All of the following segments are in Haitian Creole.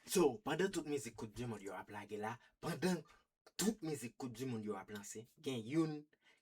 So, pandan tout mizik koup du mond yo ap lage la, pandan tout mizik koup du mond yo ap lanse, gen youn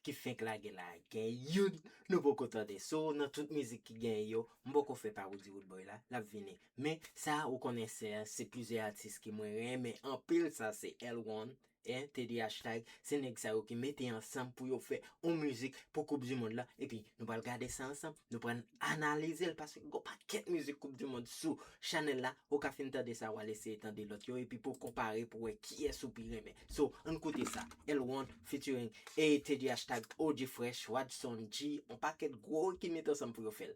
ki fenk lage la, gen youn nou poko tande. So, nan tout mizik ki genyen yo, m poko fè pa Roody Roodboy la, l ap vini. Men, sa ou konnen sè, se plizyè atis ke mwen renmen anpil sa se L-one, Hein Teddy Hashtag se nèg sa yo ki mete ansanm pou yo fè on mizik pou koup du mond la epi nou pral gade sa ansanm nou pran analizel paske gon pakèt mizik koup du mond sou chanèl la ou ka fin tande sa wal eseye tande lòt yo epi pouw konpare pou wè kiyès ou pi renmen so ann koute sa L-won featuring ee Teddy Hashtag OG Fresh Wadson G on pakèt gwo ki met ansanm pou yo fèl.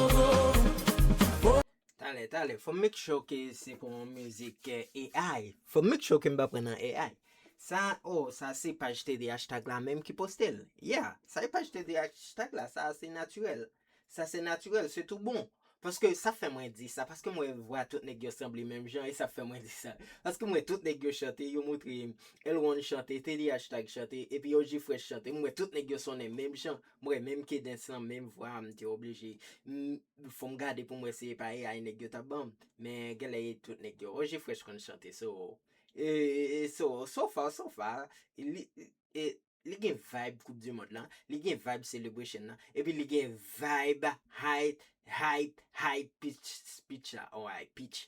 Talè talè fòm make sure ke se pou yon mizik AI fòm make sure ke m pa pran nan AI sa oh sa se paj tdh tag la menm ki poste l yeah sa e paj tdh tag la sa se natirèl sa se natirèl se tou bon paske sa fè mwen di sa paske m wè vwa tout nèg yo sanble menm jan e sa fè mwen di sa paske m wè tout nèg yo chante yo moutre m L-Ron chante tdh tag chante epi og fresh chante m wè tout nèg yo sonnen menm jan M wè menm K-dens lan menm vwa a m te oblije m fò m gade pou m wè si e pa AI nèg yo t ap ban m men genlè e tout nèg yo Roger Fresh konn chante so so so far so far li li gen vibe koup di mond lan li gen vibe celebration lan epi li gen vibe high hype high pitch speech la or high pitch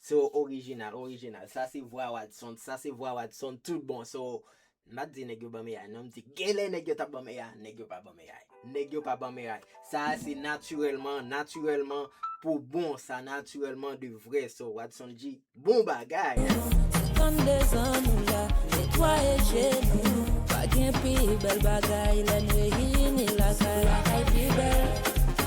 So original original sa se vwa wadson sa se vwa wadson tout bon so m pat di nèg yo banm AI non m di genlè nèg yo tap banm AI nèg yo pa banm AI nèg yo pa banm AI sa a se natirèlman natirèlman pou bon sa natirèlman de vrè so wadson dji bon bagay. Suspend dezan nou la netwaye je nou pa gen pi bèl bagay lè n reyini lakay lakay pi bèl.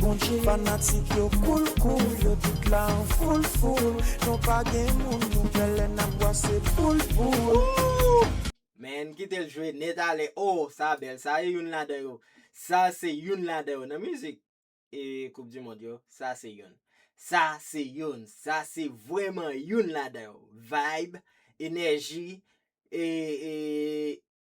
Bondje. Fanatik yo koul koul yo tout la an foul foul Nou pa gen moun nou pè lè nap bwase poul poul. Man kitel jwe net ale oh sa bèl sa e youn ladan yo sa se youn ladan yo nan mizik e koup di mond yo sa se youn sa se youn sa se vrèman youn ladan yo vibe enèji e e